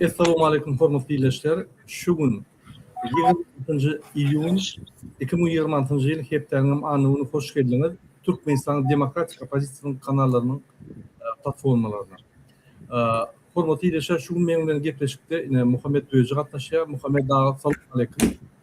Essalowmaleýkum hormatly ildeşler. Şu gün ýigrimi altynjy iýun iki müň ýigrimi altynjy ýyl hepdäniňem anygyny hoş geldiňiz Türkmenistanyň demokratik oppozisiýasynyň kanallarynyň platformalaryna. Hormatly ildeşler şu gün meň bilen gepleşikde ine Muhammet Döji gatnaşýar. Muhammet aga salowmaleýkim.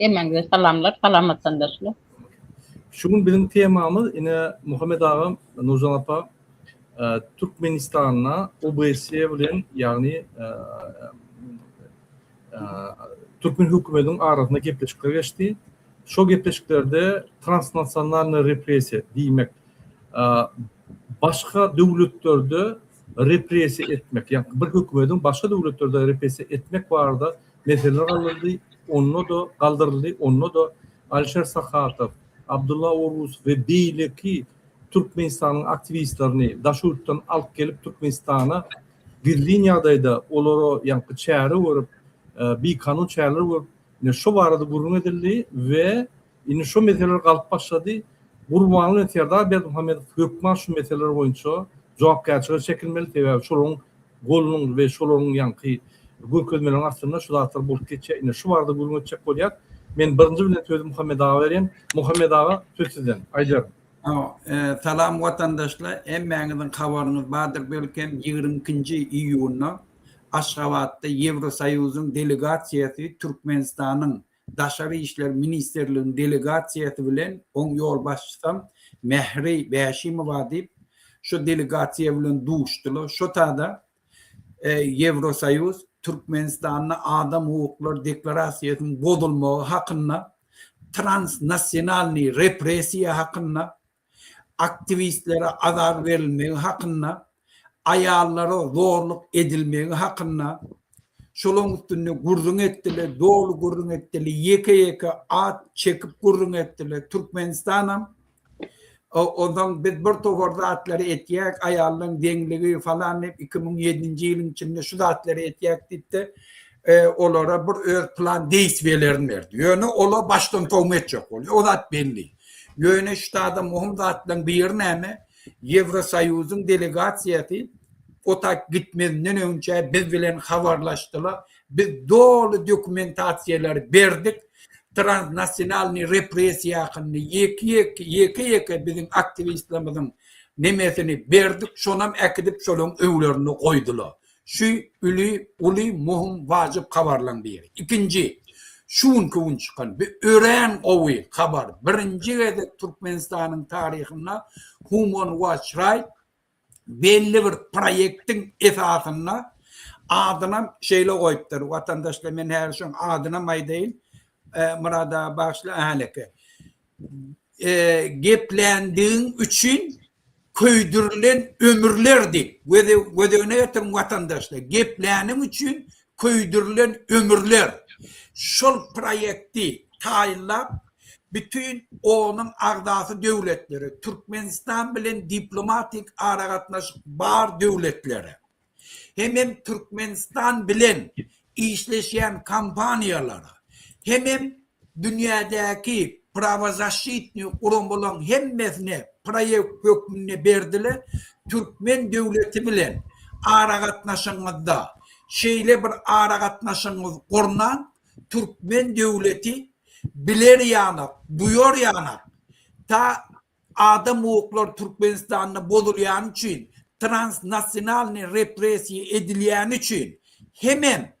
Hemmäňize salamlar, salamat sandaşlar. Şu gün biziň temamyz ine Muhammed aga, Nurjan apa, e, Türkmenistanda OBSE bilen, ýagny e, e, türkmen hökümetiniň arasynda gepleşikler geçdi. Şol gepleşiklerde transnasionalny repressiýa diýmek, e, başga döwletlerde repressiýa etmek, ýagny bir hökümetiň başga döwletlerde repressiýa etmek barada Mesele galdyryldy, onda-da galdyryldy, onda-da Alişer Sahatow, Abdulla Orus we beýleki Türkmenistanyň aktiwistlerini daş ýurtdan alyp gelip Türkmenistana gizlin ýagdaýda olara ýaňky çäre görüp, bikanun çäreler görüp, şu barada gürrüň edildi we Indi şo meseleler galyp başlady. Gurbanguly bilen Serdar Berdimuhamedow hökman şu meseleler boýunça jogapkärçilige çekilmeli, sebäbi şolaryň golunyň we şolaryň ýaňky görkezmeleriniň astynda şu zatlar bolup geçýär. Ine, şu barada gürrüň etjek bolýar. Men birinji bilen sözi Muhammet aga berýän. Muhammet aga, söz sizden. Aýdar. Salam watandaşlar! Hemmäňiziň habaryňyz bardyr belkem, ýigrimi ikinji iýunda Aşgabatda Ýewrosoýuzyň delegasiýasy Türkmenistanyň Daşary işler ministrliginiň delegasiýasy bilen oň ýolbaşçysam Mähri Bäşimowa diýip, şo delegasiýa bilen duşdular. Şo tada Ýewrosoýuz Türkmenistanda adam hukuklary deklarasiýasynyň bozulmagy hakynda, transnasionalnyý repressiýa hakynda, aktiwistlere azar berilmegi hakynda, aýallara zorluk edilmegi hakynda, şolaň üstünde gürrüň etdiler, doly gürrüň etdiler, ýeke-ýeke at çekip gürrüň etdiler. Türkmenistanam ondan biz bir topar zatlary etýäk, aýallaryň deňligi falan diýip 2007-nji ýylyň içinde şu zatlary etýäk diýip-de e, olara bir öz plan deýs belerini berdi. Ýöne olar başdan towma etjek bolýar. O zat belli. Ýöne ştada möhüm zatlaryň biri näme? Ýewrosoýuzyň delegasiýasy o taýp gitmezinden önçä biz bilen habarlaşdylar. Biz doly dokumentasiýalary berdik. Transnasionalnyý repressiýa hakynda ýeke-ýeke, ýeke-ýeke biziň aktiwistlerimiziň nemesini berdik. Şonam äkidip şolaryň öýlerinde goýdular. Şu uly, uly muhim wajyp habarlaň biri. Ikinji, şu günki gün çykan bi örän gowy habar, birinji gezek Türkmenistanyň taryhynda Human Watch Right belli bir proýektiň esasynda adynam şeýle goýupdyr, watandaşlar men häzir şoň adynam aýdaýyn, Myrada bagyşla, häleki. gepländigiň üçin köýdürilen ömürlerdi. Gözegine getirin watandaşlar. Gepläniň üçin köýdürilen ömürler. Şol proýekti taýynlap bütin onuň agzasy döwletlere, Türkmenistan bilen diplomatik aragatnaşyk bar döwletlere. hemem Türkmenistan bilen işleşýän kompaniýalara, hemem dünýädäki prawozasşitnyý guramalaryň hemmesine proýekt hökmünde berdiler, türkmen döwleti bilen aragatnaşygyňyzda şeýle bir aragatnaşygyňyzy gurnaň, türkmen döwleti biler ýanak, duýar ýanak, ta Adam hukuklary Türkmenistanda bozulýany üçin, transnasionalnyý repressiýa edilýäni üçin hemem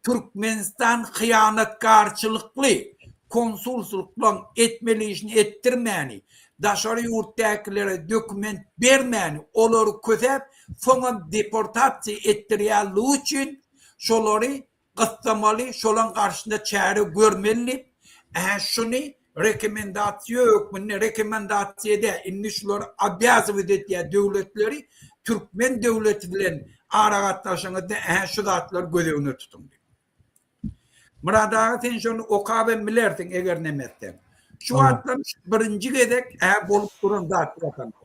Türkmenistan hyýanatkarçylykly konsulslyklaň etmeli işini etdirmäni, daşary ýurtdäkilere dokument bermäni, olary kösäp, soňam deportasiýa etdirýänligi üçin şolary gyssamaly, şolaň garşysyna çäre görmeli diýip, ä şuny rekomendasiýa hökmünde, rekomendasiýa dä, indi şular obýazowit etýär döwletleri, türkmen döwleti bilen aragatnaşygyňyzda ä şu zatlary göz öňüne tutuň diýip. Myrat aga sen şony okap hem bilersiň eger nemetseň. Şu wagtlar birinji gezek ä bolup duran zat watansy.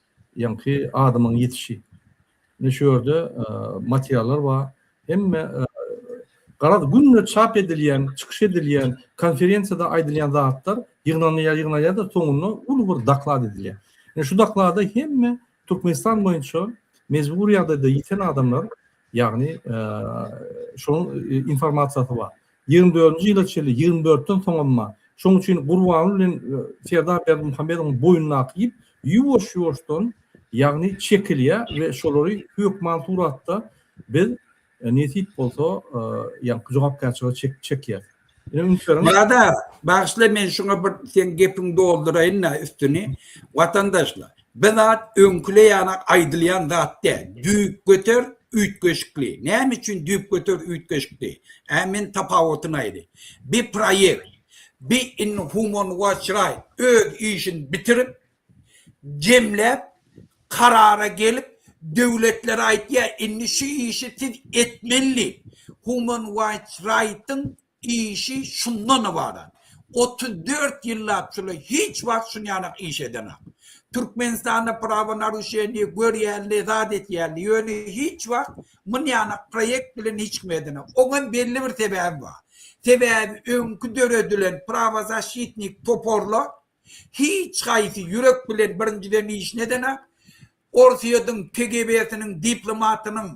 Ýaňky adamyň ýetişi. Ine şu ýerde materiallar bar. Hemme garaz günde çap edilýän, çykyş edilýän, konferensiýada aýdylýan zatlar ýygnalýar, ýygnalýar-da soňunda uly bir doklad edilýär. Ine şu doklada hemme Türkmenistan boýunça mejbury ýagdaýda ýiten adamlar Ýagny, şonuň informasiýasy bar. Ýigrimi dördünji ýyla çenli, ýigrimi dörtden soň emma, şonuň üçin Gurbanguly bilen Serdar Berdimuhamedowyň boýnundaky ýüp ýuwaş-ýuwaşdan, ýagny, çekilýär we şolary hökman suratda biz nesip bolsa, ýagny, jogapkärçilige çekýäris. Murad aga, bagyşla men şuňa bir seň gepiňi dolduraýyn-da üstüni. Watandaşlar, bir zat öňküleýän-a aýdylýan zat däl. Düýpgöter üýtgeşikli. Näme üçin düýpgöter üýtgeşikli? Ä men tapawutyny aýdaýyn. Bir proýekt, bir indi human watch raýt öz işini bitirip, jemläp karara gelip döwletler aýtýa indi şu işi siz etmelli human waýts raýtyň işi şundan ybarat otuz dört ýyllap şulay hiç wagt şun ýanak iş edenak türkmenistanda prawa naruşeniýe görýälli zat etýälli ýöne hiç wagt mun ýanak proýekt bilen hiç kim edenak oňam belli bir sebäbi bar sebäbi öňki döredilen prawa zaşitnik toporlar Hiç haýsy ýürek bilen birinjiden işini edenak, Orsýetiň KGB-siniň diplomatynyň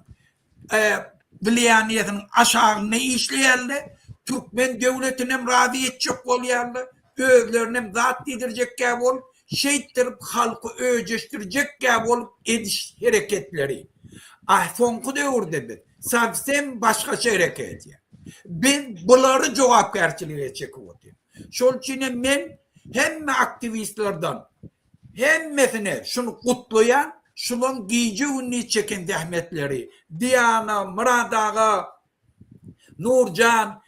wlýaniýesiniň aşagynda işleýärler, türkmen döwletinem razy etjek bolýarlar, özlerinem zat diýdirjekkä bolup, şeýtdirip halky öjeşdirjekkä bolup ediş hereketleri. A soňky döwürde biz sowsem başgaça hereket edýäs. Biz bulary jogapkärçilige çekip otyrys. Şol üçin hem men hemme aktiwistlerden hemmesini şuny gutlaýan, şulaň gije gündiz çeken zähmetleri, Diana, Myrat aga, Nurjan,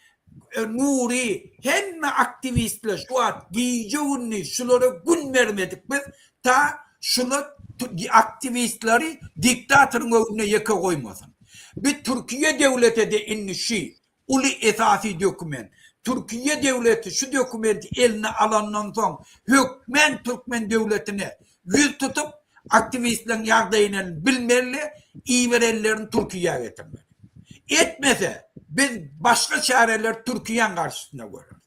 Nury hemme aktiwistler şu wagt gije gündiz şulara gün bermedik biz ta şular aktiwistleri diktatoryň öňünde ýeke goýmasyn. Bi Türkiýe döwlete de indi şi Uly esasy dokument. Türkiýe döwleti şu dokumenti eline alandan soň hökmän türkmen döwletine ýüz tutup, aktiwistleriň ýagdaýyny bilmeli, iberenlerini Türkiýä getirmeli. Etmese, biz başga çäreleri Türkiýäň garşysyna göreris.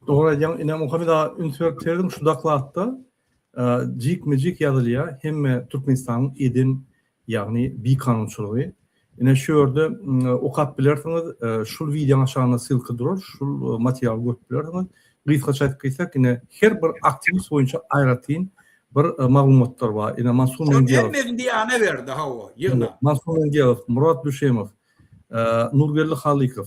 Dogry aýdýaň ine muhimi da üns berip serdim şu daklatda jik mi jik ýazylýa hemme türkmenistanyň eden ýagny bi kanunçylygy ine şu ýerde okap bilersiňiz şul wideoň aşagynda ssylka durar şul materialy görüp bilersiňiz gysgaça aýdyp geçsek ine her bir aktiwist boýunça aýratyn bir maglumatlar bar ine mansur mendiýew mendiýana berdi hawa ýygna mansur mendiýew murat düşemow nurgeldi halykow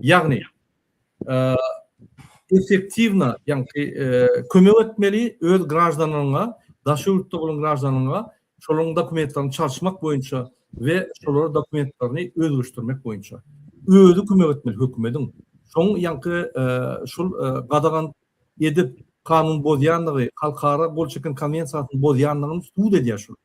Ýagny, effektiwna, ýagny kömek etmeli öz graždanyňa, daşary ýurtda bolan graždanyňa şolaryň dokumentlerini çalyşmak boýunça we şolara dokumentlerini özgerişdirmek boýunça. Özi kömek etmeli hökümediň. Şoň, ýagny şol gadagan edip kanun bozýandygy, halkara gol çeken konwensiýasyny bozýandygyny subut edýär şular.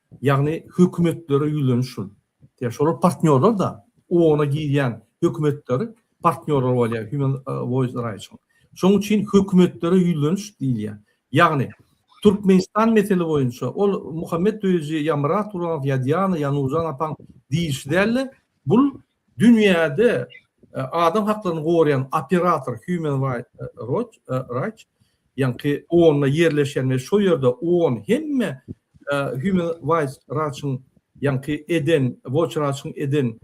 Ýagny hökümetlere ýüzleniş şul. Ýa şolar partnýorlar-da, OON-a girýän hökümetler partnýorlar bolýar Human Voice Rights-yň. Şonuň üçin hökümetlere ýüzleniş diýilýär. Ýagny Türkmenistan mesele boýunça ol Muhammet özi ýa Myrat Gurbanow ýa Diana ýa Nurjan apaň diýlişi däl-de, bul Dünýäde adam haklaryny goraýan operator Human Rights Watch ýaňky onda ýerleşen we şo ýerde on hemme Human Rights Watch-yň ýaňky eden Watch Watch-yň eden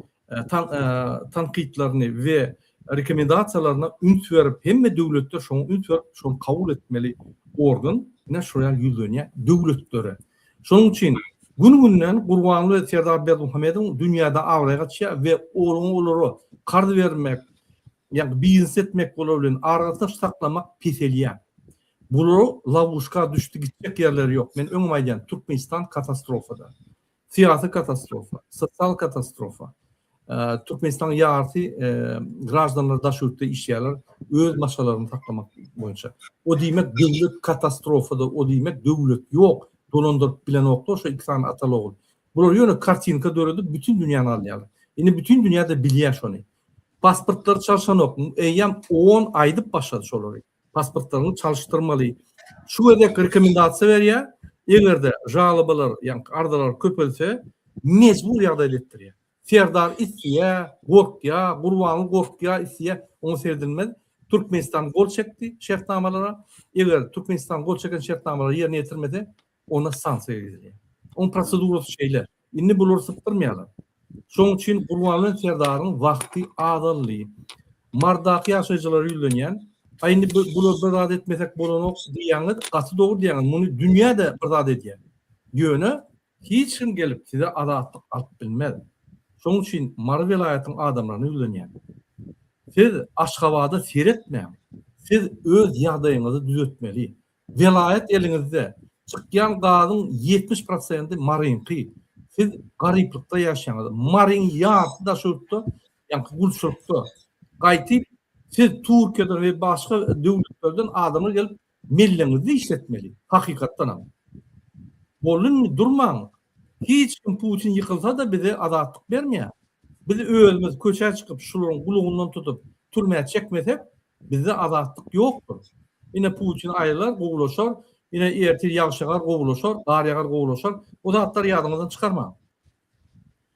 tankytlaryny we rekomendasiýalaryna üns berip hemme döwletler şoňa üns berip şony kabul etmeli organ ine şoýa ýüzlenýär döwletlere. Şonuň üçin gün-günden Gurbanguly we Serdar Berdimuhamedowyň dünýäde abraýy gaçýar we olaryň olara karz bermek, ýagny biznes etmek olar bilen aragatnaşyk saklamak peselýär. Bular lawuşka düşdi gitjek ýerleri ýok. Men öňem aýdýan Türkmenistan katastrofada. Syýasy katastrofa, sosial katastrofa, Türkmenistanyň ýarysy graždanlary daş ýurtda işleýärler, öz maşgalaryny saklamak boýunça. O diýmek döwlet katastrofada, o diýmek döwlet ýok, dolandyryp bilenoklar şo iki sany atal ogul. Bular ýöne kartinka döredip bütün dünýäni alýarlar. Indi bütün dünýä-de bilýär şony. Pasportlary çalşanok. Eýýäm 10 aýdyp başlady şolary. pasportlaryňy çalyşdyrmaly. Şu gezek rekomendasiýa berýär, eger-de žalobalar, ýagny arzalar köpelse, mejbur ýagdaýda etdirýär. Serdar isleýär, gorkýar, Gurbanguly gorkýar, isleýär, oňa seredilmez. Türkmenistan gol çekdi şertnamalara. Eger Türkmenistan gol çeken şertnamalary ýerine ýetirmese, Onda stansiýa gidilýär. Oň prosedurasy şeýle. Indi bulary sypdyrmaýarlar. Şoň üçin Gurbanguly serdaryň wagty azaldy. Mardaky ýaşaýjylara ýüzlenýän, Aý indi bular bir zat etmesek bolanok diýýäňiz, gaty dogry diýýäňiz. Muny dünýä-de bir zat edýär. Ýöne hiç kim gelip size azatlyk alyp bilmez. Şoň üçin Mary welaýatyň adamlaryna ýüzlenýän. Siz Aşgabada seretmäň. Siz öz ýagdaýyňyzy düzetmeli. Welaýat eliňizde. Çykýan gazyň ýetmiş prosenti Maryňky. Siz garyplykda ýaşaýaňyz. Maryň ýarysy Daşoguzda, ýaňky gulçulykda. Gaýtyp, siz Türkiýeden we başga döwletlerden adamlar gelip, melleňizde işletmeli. Hakykatdanam. Boldy indi, durmaň. Hiç kim Putin ýykylsa-da bize azatlyk bermeýär. Biz özümiz köçä çykyp, şularyň gulagyndan tutup, türmä çekmesek, Bizde azatlyk ýokdur. Ine Putin aýylar, gowulaşar, ine ertir ýagyş ýagar, gowulaşar, gar ýagar, gowulaşar. Bu zatlary ýadyňyzdan çykarmaň.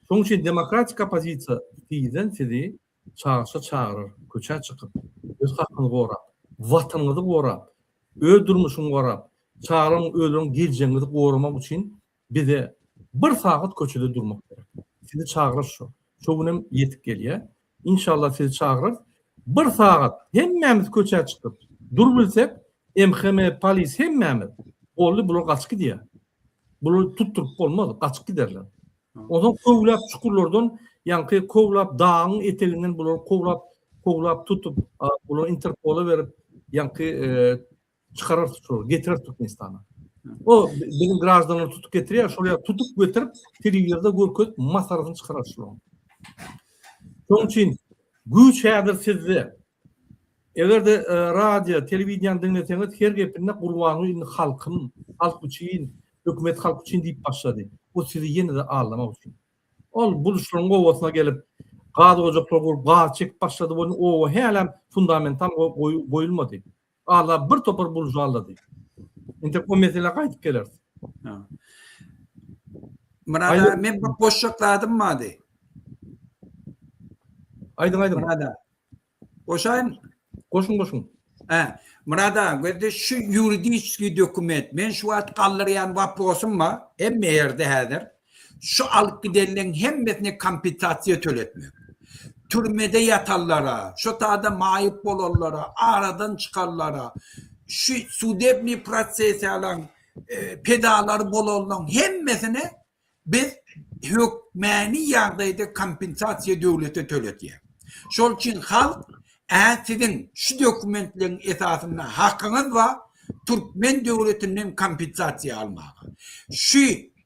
Şonuň üçin demokratik oppozisiýa tizden sizi çagyşa çagyrar, köçä çykyp, öz hakyňyzy gorap, Watanyňyzy gorap, öz durmuşyňy gorap, çagalaryň, özleriň geljegiňizi goramak üçin Bize bir sagat köçede durmak gerek. Sizi çagyrarys şo. Şo günem ýetip gelýär. Inşallah sizi çagyrarys. Bir sagat hemmämiz köçä çykyp dur bilsek, MHM, polis hemmämiz boldy bular gaçyp gidýär. Bular tutduryp bolmaz, gaçyp giderler. Ondan kowlap çukurlardan, ýaňky kowlap dagyň eteginden bular kowlap, kowlap tutup, bular Interpola berip, ýaňky Çykarar tutup, getirer Türkmenistana. O biziň graždanlar tutup getirýär, şol ýa tutup getirip, telewizorda görkezip, masaryny çykarar şol. Şonuň üçin güýç häzir sizde. Eger-de e, radio, telewideniýany diňleseňiz, her gepinde gurbanyň indi halkym, halk üçin, hökümet halk üçin diýip başlady. Bu sizi ýene-de aldamak üçin. Ol buluşlaryň owasyna gelip, gaz ojaklar gurup, gaz çekip başlady, bu owa hälem fundamental goýulmady. Ala bir topar buržualady. Entek o meselä gaýdyp geleris. Ha. Murad Aýdyň. men bir goşjak zadym bardy. Aýdyň, aýdyň. Murad aga. Goşaýyn. Goşuň, goşuň. He. Murad aga, gözde şu ýuridiski dokument. Men şu wagt galdyrýan waprosym bar. Hemme ýerde häzir. Şu alyp gidenleriň hemmesine kompensasiýa töletmek. Türmede ýatanlara, şu sada maýyp bolanlara, aradan çykanlara, şu sudebniý prosesiýalaryň pedalary bolanlaryň hemmesine biz hökmäni ýagdaýda kompensasiýa döwlete töletýäs. Şol üçin halk Ä siziň şu dokumentleriň esasynda hakyňyz bar türkmen döwletinden kompensasiýa almaga. Şu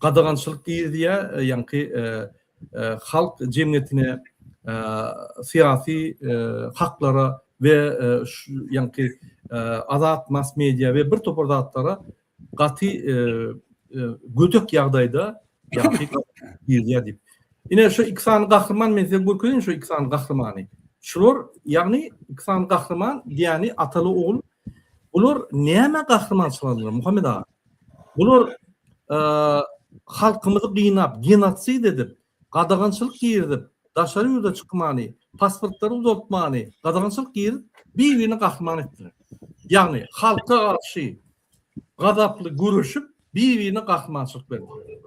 Gadagançylyk giriziýär, ýaňky halk jemgyýetine syýasy haklara we ýaňky azat mass media we bir topar zatlara gaty gödek ýagdaýda ýaňky giriziýär diýip. Ine şu iki sany gahryman men size görkezeýin şu iki sany gahrymany. Şular ýagny iki sany gahryman diýýäni ataly ogul. Bular näme gahrymançylyk aldylar Muhammet aga? Bular halkymyzy gynap, genotsid edip, gadagançylyk girizip, daşary ýurda çykmany, pasportlary uzaltmany, gadagançylyk girip, bir-birini gahryman etdiler. Ýagny halka garşy gazaply göreşip, bir-birine gahrymançylyk berdiler.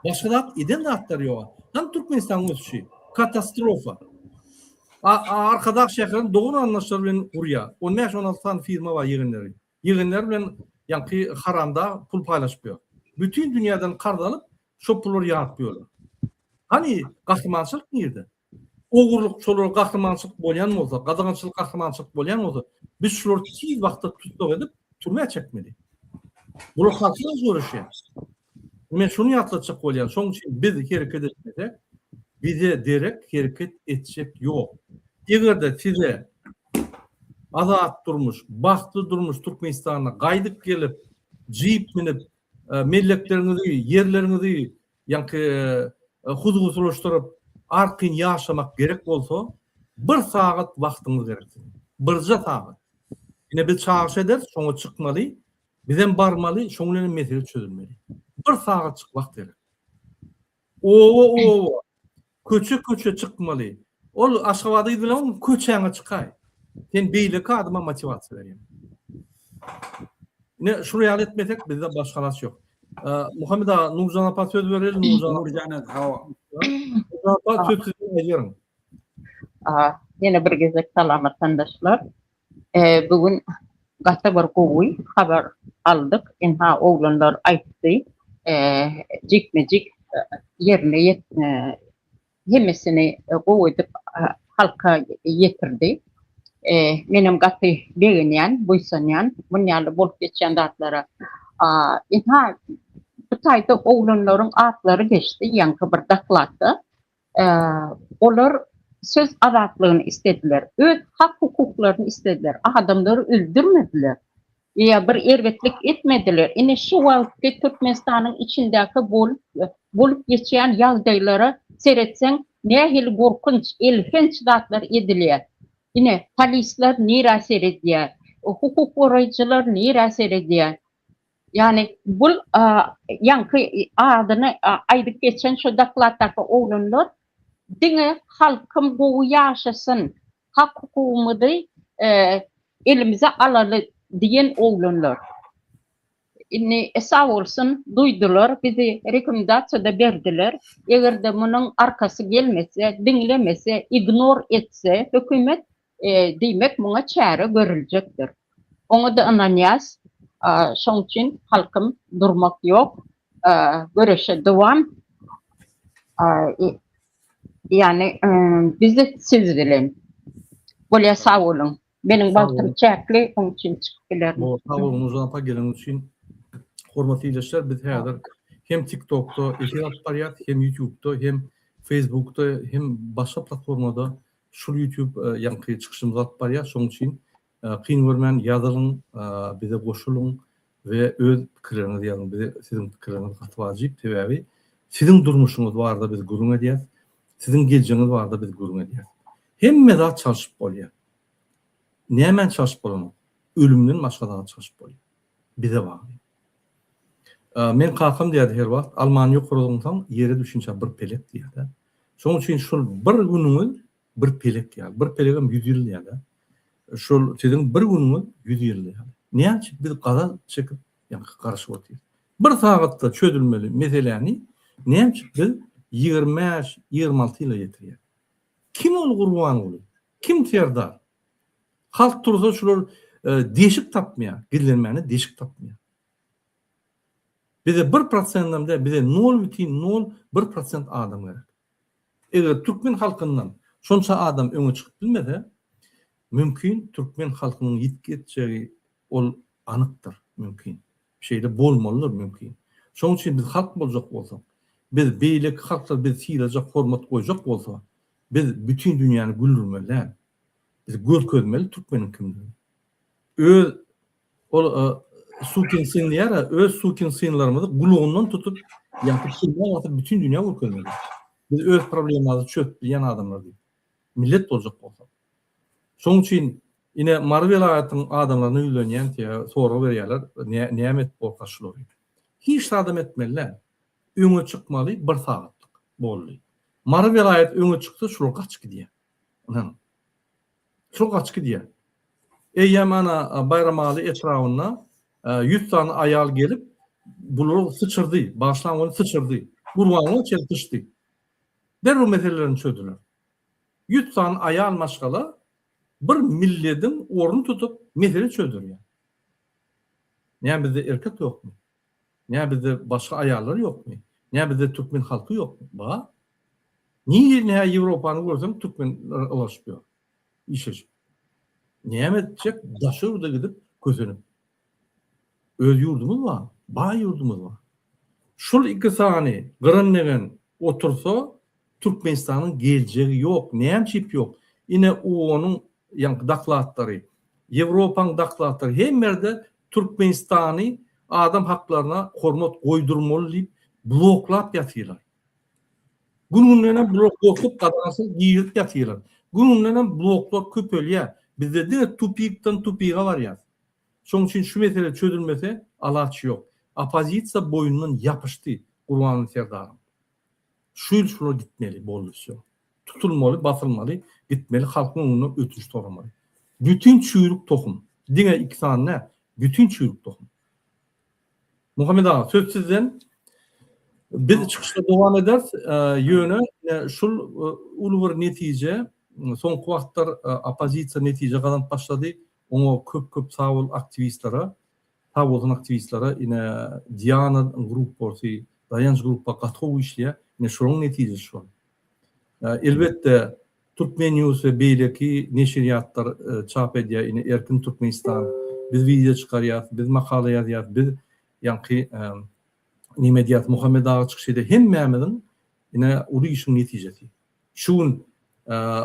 Başga zat eden zatlar ýok. Hem Türkmenistanyň ösüşi katastrofa. Arkadag şäherini dogan anlaşlar bilen gurýar. 15-16 sany firma bar ýegenleri. Ýygyndary bilen ýaňky haramdag pul paýlaşyp ýör. Bütin dünýäden karz alyp, şo pullary ýazyp ýörler. Hany gahrymançylyk nirde? Ogurlyk şolara gahrymançylyk bolýan bolsa, gadagançylyk gahrymançylyk bolýan bolsa, biz şulary tiz wagtda tussag edip, türmä çekmeli. Bular halkdan göreşýär. Men şuny ýatlatjak bolýan, şoň üçin biz hereket etmesek, bize derek hereket etjek ýok. Eger-de size azat durmuş, bagtly durmuş Türkmenistana gaýdyp gelip, jip münüp, mellekleriňizi, ýerleriňizi ýaňky huzgusylaşdyryp, arkaýyn ýaşamak gerek bolsa, bir sagat wagtyňyz gerek siziň. Birje sagat. Ine biz çagyryş ederis, şoňa çykmaly, Bizem barmaly, şoň bilen mesele çözülmeli. Bir sagatçyk wagt gerek. Owa owa, köçe köçe çykmaly. Ol Aşgabada gidilem köçäňe çykaý. Sen beýle kadyma motiwasiýa berýän. Ne şuny ýaly etmesek bizde başga halas ýok. Muhammed aga, Nurjan apa söz bereli, Nurjan. Nurjan aga, hawa. Nurjan apa söz siziň ejerim. Ýene bir gezek salamat tandaşlar. Eee bu gün gaty bir gowy habar aldyk ynha oglanlar aýtdy eee jikme jik ýerine ýetdi hemmesini gowy edip halka ýetirdi eee menem gaty begenýän buýsanýan muny ýaly bolup geçýän zatlara aaa ynha bu taýda oglanlaryň atlary geçdi ýaňky bir dokladda Olar söz azatlygyny islediler, öz hak-hukuklaryny islediler, adamlary öldürmediler, ýa bir erbetlik etmediler. Ine şu wagtky Türkmenistanyň içindäki bolup geçýän ýagdaýlara seretseň, nähili gorkunç, elhenç zatlar edilýär. Ine, polisler nirä seredýär, hukuk goraýjylar nirä seredýär? Ýagny bul ýaňky adyny aýdyp geçen şo dokladdaky oglanlar diňe halkym gowy ýaşasyn, hak hukugymyzy elimize alaly diýen oglanlar. Indi sag bolsun duýdular bizi rekomendasiýada berdiler. Egerde munyň arkasy gelmese, diňlemese, ignor etse hökümet Diýmek, muňa çäre görüljekdir. Oňa-da ynanýas. Şoň üçin, halkym, durmak ýok, göreşe dowam. Ýagny, biz siz bilen. Bolýa, sag boluň. Meniň wagtym çäkli, oň üçin çykyp bilerin. Sag boluň, Nurjan apa, geleniň üçin. Hormatly ildeşler, biz häzir hem TikTokda efir alyp barýas, hem Ýutubda, hem Facebookda, hem başga platformada Şul YouTube ýaňky çykyşymyzy alyp barýar şoň üçin kyn görmän ýazylyň bize goşulyň we öz pikirleriňizi ýazyň bize siziň pikirleriňiz gaty wajyp sebäbi siziň durmuşyňyz barada biz gürrüň edýäs siziň geljegiňiz barada biz gürrüň edýäs hemme zat çalşyp bolýar nämä çalşyp bolanok ölümden başga zat çalşyp bolýar bize bagly. Meň kakam diýerdi her wagt, Almany ýokary zyňsaň, ýere düşünçä bir pelek diýýär-dä. Şonuň üçin şol bir günüňiz bir pelek ýaly. Bir pelegem ýüz ýyl diýýärler. Şol siziň bir günüňiz ýüz ýyl ýaly. Näme üçin biz gazap çekip, ýa-da garaşyp otyrys? Bir sagatda çözülmeli meseläni näme üçin biz ýigrimi bäş, ýigrimi alty ýyla ýetirýäris? Kim ol Gurbanguly? Kim Serdar? Halk tursa şular deşik tapmaýar, gizlenmäne deşik tapmaýar. Bize bir prosendam däl, bize nol bitin nol bir prosent adam gerek. Eger türkmen halkyndan şonça adam öňe çykyp bilmese, mümkin türkmen halkynyň ýitgi etjegi ol anykdyr, mümkin. Şeýle bolmalydyr, mümkin. Şonuň üçin biz halk boljak bolsak, biz beýleki halklar bizi sylajak, hormat goýjak bolsa, biz bütin dünýäni güldürmeli däl. Biz görkezmeli türkmeniň kimdigini. Öz ol sukin syn diýara, öz sukin synlarymyzy gulagyndan tutup, ýapyp türmä basyp bütin dünýä görkezmeli. Biz öz problemamyzy çözüp bilýän adamlar diýip. Millet boljak bolsa. Şoň üçin ine Mary welaýatyň adamlaryna ýüzlenýän diýä sorag berýärler, näme edip bolkar şulary. Hiç zadam etmeli däl. Öňe çykmaly bir sagatlyk boldy. Mary welaýat öňe çyksa şular gaçyp gidýär. Ynhan, şol gaçyp gidýär. Eýýäm ana Baýramaly etrabyna ýüz sany aýal gelip, bulary syçyrdy, bagyşlaň welin syçyrdy. Gurbanguly çenli syçdy. Derrew meselelerini çözdüler. Ýüz sany aýal maşgala bir millediň ornuny tutup, mesele çözdürýär. Näme bizde erkek ýokmy? Nä bizde başga aýallar ýokmy? Nä bizde türkmen halky ýokmy? Bar. Nirä nä Ýewropany görseň türkmenler ylalaşyp ýör. Işleşip. Näme etjek daşa ýurda gidip kösenip. Öz ýurdumyz bar. Baý ýurdumyz bar. Şul iki sany gyryn degen otursa Türkmenistanyň geljegi ýok. Nämçip ýok? Ine UONyň ýaňky doklatlary, Ýewropaň doklatlary hemme ýerde Türkmenistany adam haklaryna hormat goýdurmaly diýip bloklap ýatyrlar. Gün gündenem bular gorkup gadagançylyk girip ýatyrlar. Gün gündenem bloklar köpelýär. Bizde diňe tupikden tupiga barýas. Şoň üçin şu mesele çözülmese alaç ýok. Oppozisiýa boýundan ýapyşdy Gurbanguly Serdaryň. Şu ýyl şular gitmeli, boldy, wsýo. Tutulmaly, basylmaly, gitmeli, halkyň öňünde ötünç soramaly. Bütin çüýrük tohum. Diňe iki sany dä, bütin çüýrük tohum. Muhammet aga, söz sizden. Biz çykyşda dowam ederis, ýöne şul uly bir netije, soňky wagtlar oppozisiýa netije gazanyp başlady, oňa köp-köp sag bol aktiwistlere. Sag bolsun aktiwistlere ine Diana grup bolsy Daýanç grupa gaty gowy işleýär ine şolaň netijesi şol. Elbetde Turkmen news we beýleki neşirýatlar çap edýär ine Erkin Türkmenistan biz wideo çykarýas biz makala ýazýas biz ýaňky neme edýas Muhammet aga çykyş edýär hemmämiziň ine uly işiň netijesi. Şu gün,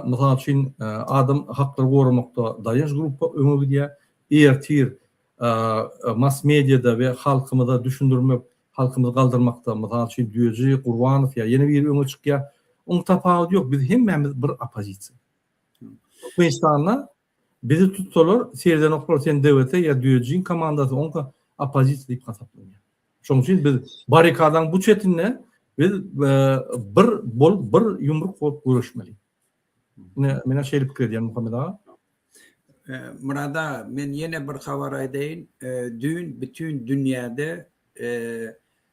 mysal üçin, adam haklary goramakda daýanç gruppa öňe gidýär. Ertir mass-mediýada we halkymyza düşündirmek, halkymyzy galdyrmakda, mysal üçin, Düýeji, Gurbanow ýa ýene biri öňe çykýar. Onuň tapawudy ýok, biz hemmämiz bir oppozisiýa. Türkmenistanda Bizi tutsalar seredenoklar sen DVT ya Düejiň komandasy onka opozisiýa diýip hasaplanýar. Şoň üçin biz barikadaň bu çetinde biz bir bolup bir ýumruk bolup göreşmeli. Menä şeýle pikir edýän Muhammet aga. Murad aga men ýene bir habar aýdaýyn. Düýn bütin dünýäde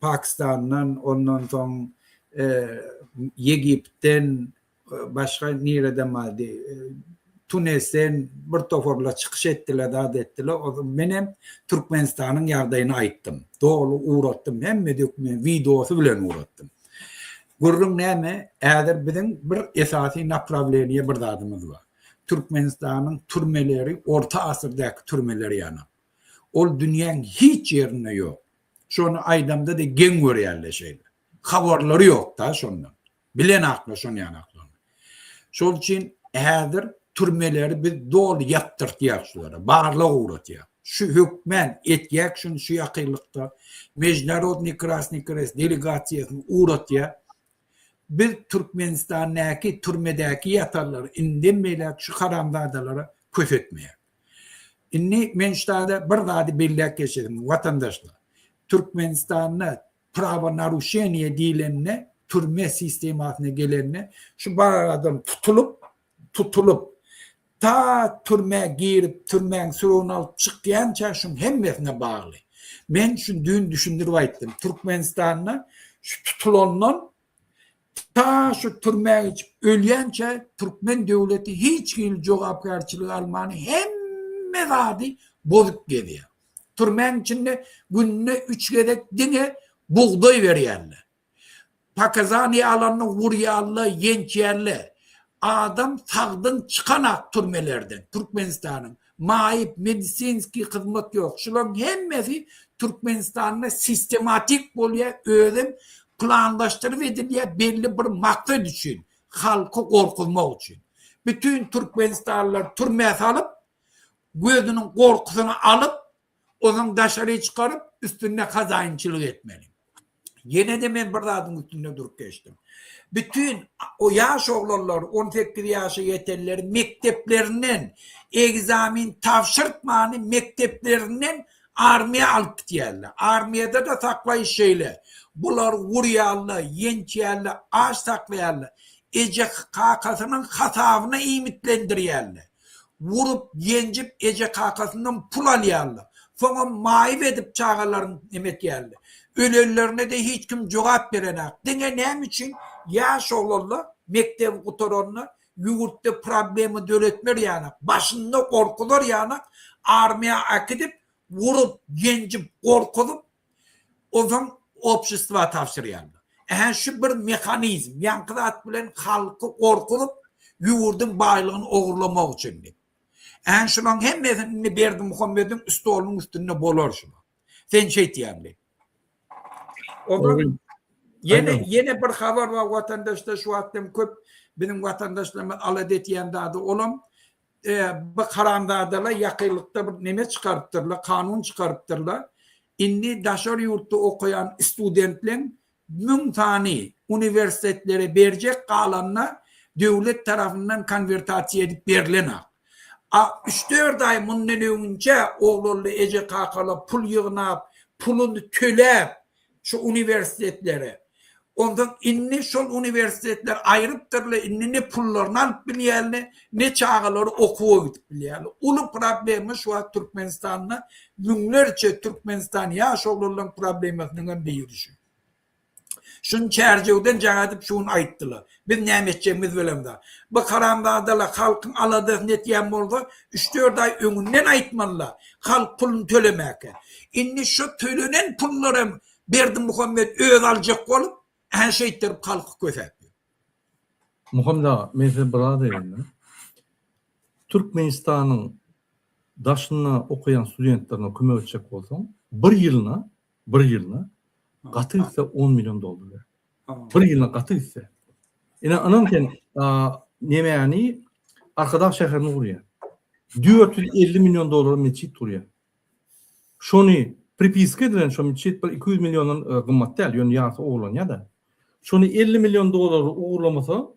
Pakistandan, ondan soň Ýegiptden, başga nireden bardy, Tunesden bir toparlar çykyş etdiler, zat etdiler. Onsoň menem Türkmenistanyň ýagdaýyny aýtdym. Doly ugratdym, hemme dokument, wideosy bilen ugratdym. Gürrüň näme? Häzir biziň bir esasy naprawleniýe bir zadymyz bar. Türkmenistanyň türmeleri orta asyrdaky türmeler ýaly. Ol dünýäň hiç ýerinde ýok. Şony aýdamda de geň görýärle şeýle. Habarlary ýok da şondan. Bilen akla şony ýan akla. Şol üçin häzir türmeleri biz doly ýapdyrtýak şulara. Barlag ugratýak. Şu hökmän etýäk şuny şu ýakynlykda. Mejnarodny Krasny Krest delegasiýasyny ugratýa. Biz Türkmenistandäki türmedäki ýatarlar indem beýläk şu haramzadalara kösetmeýäk. Indi men şu taýda bir zady belläp geçerin, watandaşlar. Türkmenistanda prawonaruşeniýe diýlende, türme sistemasyna gelende, şu bar adam tutulyp, tutulyp, ta türmä girip, türmäň süregini alyp çykýança şuň hemmesine bagly. Men şuny düýn düşündirip aýtdym. Türkmenistanda şu tutulandan Ta şu türmä geçip ölýänçä türkmen döwleti hiç hili jogapkärçilik alman hemme zady bozup gezýär. Türmäň içinde günde üç gezek diňe bugdaý berýärler. Pakazaniýa alanda urýarlar, ýençýärler. Adam sagdyn çykanak türmelerden Türkmenistanyň. maýyp, medisinskiý hyzmat ýok. Şularyň hemmesi Türkmenistanda sistematik bolýar, özem planlaşdyryp edilýär, belli bir maksat üçin, halky gorkuzmak üçin. Bütin türkmenistanlylary türmä salyp, gözüniň gorkusyny alyp, Onuň daşary çykaryp, üstünde hazaýynçylyk etmeli. Ýene-de men bir zadyň üstünde durup geçdim. Bütin o ýaş oglanlar, on sekiz ýaşa ýetenler mekdeplerinden ekzamen tabşyrtmany mekdeplerinden armiýa alyp gidýärler. Armiýada-da saklaýyş şeýle. Bulary urýarlar, ýençýärler, aç saklaýarlar. Eje-kakasynyň hasabyna iýmitlendirýärler. urup-ýenjip eje-kakasyndan pul alýarlar. Soňam maýyp edip çagalaryny nemetýärler. Ölenlerine-de hiç kim jogap berenak. Diňe näme üçin ýaş oglanlar mekdebi gutaranda ýurtda problema döretmer ýanak, başynda gorkuzar ýanak armiýa akidip urup-ýenjip gorkuzyp Ozon obşestwa tabşyrýarlar. Ähä şu bir mehanizm, ýaňky zat bilen halky gorkuzyp, ýurduň baýlygyny ogurlamak üçin diýip. Ähä şulaň hemmesini indi Berdimuhamediň stolunyň üstünde bolar şu. Sen şeýtýän diýip. Ozon ýene ýene bir habar bar watandaşlar şu wagtam köp biziň watandaşlarymyz alada etýän zady olam Bu haramzadalar ýakynlykda bir neme çykarypdyrlar, kanun çykarypdyrlar. Indi daşary ýurtda okaýan studentleň müň sany uniwersitetlere berjek galanyna döwlet tarapyndan konwertasiýa edip berilenak. A üç-dört aý mundan öňünçä oglanly eje-kakalar pul ýygnap, puluny töläp, Şu uniwersitetlere. Onsoň indi şol uniwersitetler aýrypdyrlar, indi ne pullaryny alyp bilýärler, ne çagalary okuwa gidip bilýärler. Uly problema şu wagt Türkmenistanda müňlerçe Türkmenistan ýaş oglanlaryň problemasynyň hem biri şu. Şuny Çärjewden jaň edip şu gün aýtdylar. Biz näme etjegimiz bilemda. Bu haramzadalar halkyň aladasyny etýän bolsa, üç-dört aý öňünden aýtmalyda, halk puluny tölemäkä. Indi şo tölenen pullar hem Berdimuhamet özi aljak bolup, hä şeýtdirip halky kösäp ýör. Muhammet aga, men size bir zat aýdaýynda. Türkmenistanyň daşynda okaýan studentlerine kömek etjek bolsaň, bir ýylyna Bir ýylyna gaty gitse on million dollar ber. Bir ýylyna gaty gitse. Ine ynam sen nemäni Arkadag şäherini gurýar. 450 million dollara metjit gurýar. Şony pripiska edilen şo metjit bir 200 milliondan e, gymmat däl, ýöne ýarysy ogurlanýar-da. Şony 50 million dollar ogurlamasa,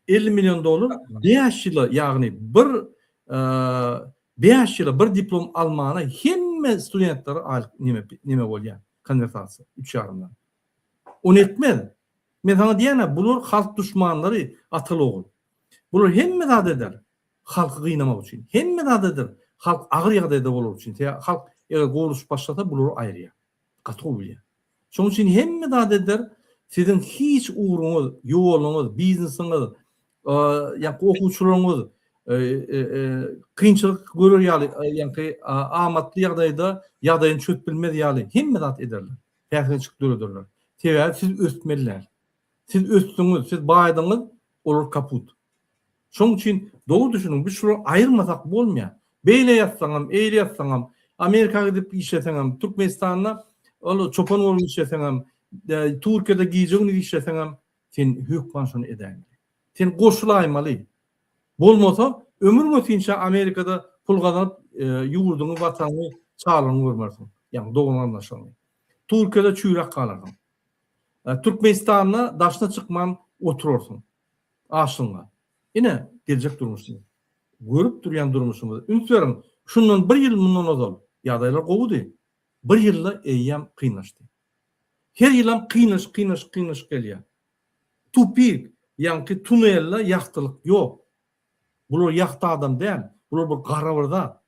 Elli million dollar bäş ýyla, ýagny bir bäş ýyla bir diplom almana hemme studentlere aýlyk neme neme bolýa, konwertasiýa, üç ýarymdan. Ony etmez. Men saňa diýýän-ä, bular halk duşmanlary, ataly ogul. Bular hemme zat eder, halky gynamak üçin. Hemme zat eder, halk agyr ýagdaýda bolar üçin. Halk eger gowluşyp başlasa, bulary aýyrýa. Gaty gowy bilýär. Şonuň üçin hemme zat eder. Siziň hiç ugruňyz, ýoluňyz, biznesiňiz, ýa-da okuwçylygyňyz kynçylyk görer ýaly, ýa-da amatly ýagdaýda ýagdaýyny çözüp bilmez ýaly hemme zat ederler. Päsgelçilik dörederler. Sebäbi siz ösmeliler. Siz ösdüňiz, siz baýdyňyz, olar kaput. Şoň üçin dogry düşüniň, biz şulary aýyrmasak bolmaýar. Beýle ýazsaňam, eýle ýazsaňam, Amerika gidip işleseňem, Türkmenistanda ol çopan bolup işleseňem, Türkiýede gije-gündiz işleseňem, sen hökman şony edäýiň gerek. Sen goşulaýmaly. Bolmasa, ömür-götinçä Amerikada pul gazanyp, ýurduňy, watanyňy, çagalaryňy görmersiň, ýagny dogan-garyndaşlaryňy. Türkiýede çüýräp galarsyň. Türkmenistanda daşyna çykman oturarsyň. Aşygyňa. Ine, geljek durmuşyň. Görüp durýan durmuşyňyza üns beriň. Şundan bir ýyl mundan ozal ýagdaýlar gowudy. Bir ýylda eýýäm kynlaşdy. Her ýylam kynlaşyk, kynlaşyk, kynlaşyk gelýär. Tupik, ýaňky tunelde ýagtylyk ýok. Bular ýagty adam däl, bular bir gara bir zat.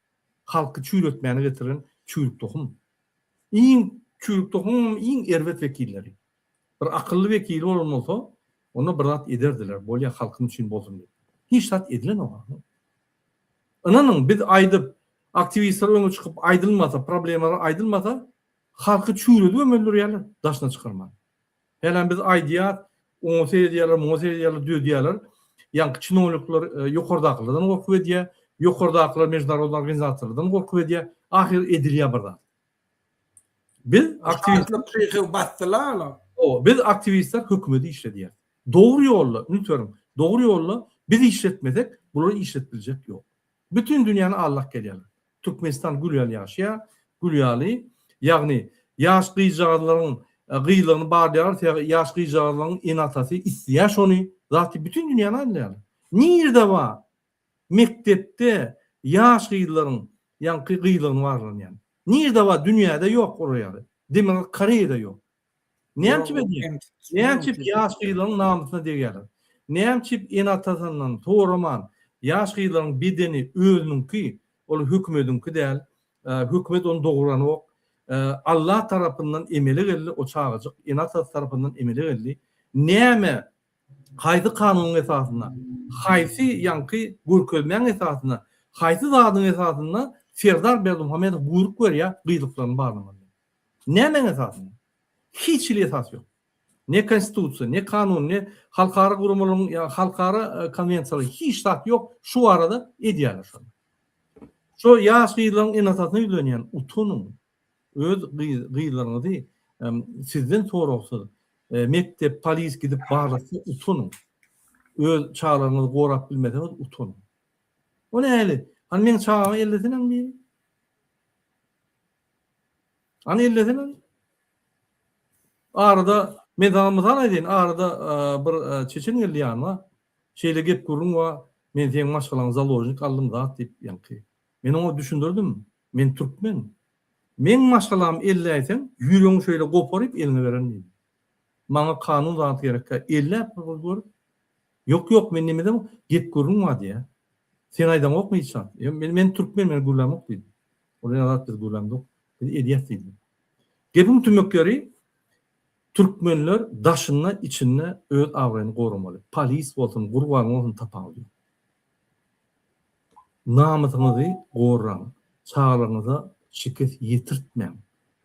Halky çüýretmäni getiren çüýrük tohum. Iň çüýrük tohumyň iň erbet wekilleri. Bir akylly wekili bolan bolsa, onda bir zat ederdiler, bolýa halkyň üçin bolsun diýip. Hiç zat edilenok agam. Ynanyň, biz aýdyp, aktiwistler öňe çykyp aýdylmasa, problemalary aýdylmasa, halky çüýredibem öldürýärler, daşyna çykarman. Hälem biz aýdýas, oňa seredýärler, muňa seredýärler, dödýärler. Ýaňky çinownikler ýokardakylardan gorkup edýär, ýokardakylar mežnarodny organizasiýalardan gorkup edýär. Ahyr edilýär bir zat. Biz aktiwistler çykyp basdylar olar. Hawa, biz aktiwistler hökümeti işledýäris. Dogry ýolda, üns beriň, dogry ýolda biz işletmesek, bulary işletip biljek ýok. Bütin dünýäni aldap gelýärler. Türkmenistan gül ýaly ýaşaýar, gül ýaly, ýagny ýaş gyzjagazlaryň gyzlygyny barlaýarlar, sebäbi ýaş gyzjagazlaryň ene-atasy isleýär şony, zaty bütin dünýäni aldýarlar. Nirede bar mekdepde ýaş gyzlaryň ýaňky gyzlygyny barlanýan? Nirede bar dünýäde ýok ora ýaly. Demirgazyk Koreýada ýok. Näçip edýär? Näçip ýaş gyzlaryň namysyna degýärler? Näçip ene-atasyndan soraman, ýaş gyzlaryň bedeni özüniňki, ol hökümediňki däl, hökümet ony dogranok, Allah tarapyndan emele geldi, o çagajyk ene-atasy tarapyndan emele geldi. Näme, haýsy kanunyň esasynda, haýsy ýaňky görkezmäň esasynda, haýsy zadyň esasynda Serdar Berdimuhamedow buýruk berýär gyzlyklaryny barlamazlyga? Nämäň esasynda? Hiç hili esas ýok. Ne konstitusiýa, ne kanun, ne halkara guramalaryň ýa halkara konwensiýalary hiç zat ýok şu barada edýärler şony. Şu ýaş gyzlaryň eneatasyna ýüzlenýän utanyň öz gyzlaryňyzy sizden soragsyz mekdep, polis gidip barlatsa utanyň. Öz çagalaryňyzy gorap bilmeseňiz utanyň. O näli? Hany meň çagamy ellesenem biri? Ony ellesene. Arada men sana mysal aýdaýyn, arada bir çeçen geldi ýanyma. Şeýle gep-gürrüň bar, men seň maşgalaňy založnik aldym zat diýip ýaňky. Men oňa düşündirdim, men türkmen. Meň maşgalamy elläýseň, ýüregiňi şeýle goparyp eliňe bererin diýdim. Maňa kanun zat gerekkä, elläp bir gyz görüp. Ýok, ýok, men neme edem, gep-gürrüň bar diýýä. Sen aýdaňokmy hiç zat? Men türkmen, men gürlämok diýdim. Olar zat biz duýlamzok, biz edýäs diýdi. Gepiň tümek ýeri, türkmenler daşynda, içinde öz abraýyny goramaly. Polis bolsun, gurban bolsun tapawudy ýok. Namysyňyzy gorraň, çagalaryňyza şikes ýetirtmäň.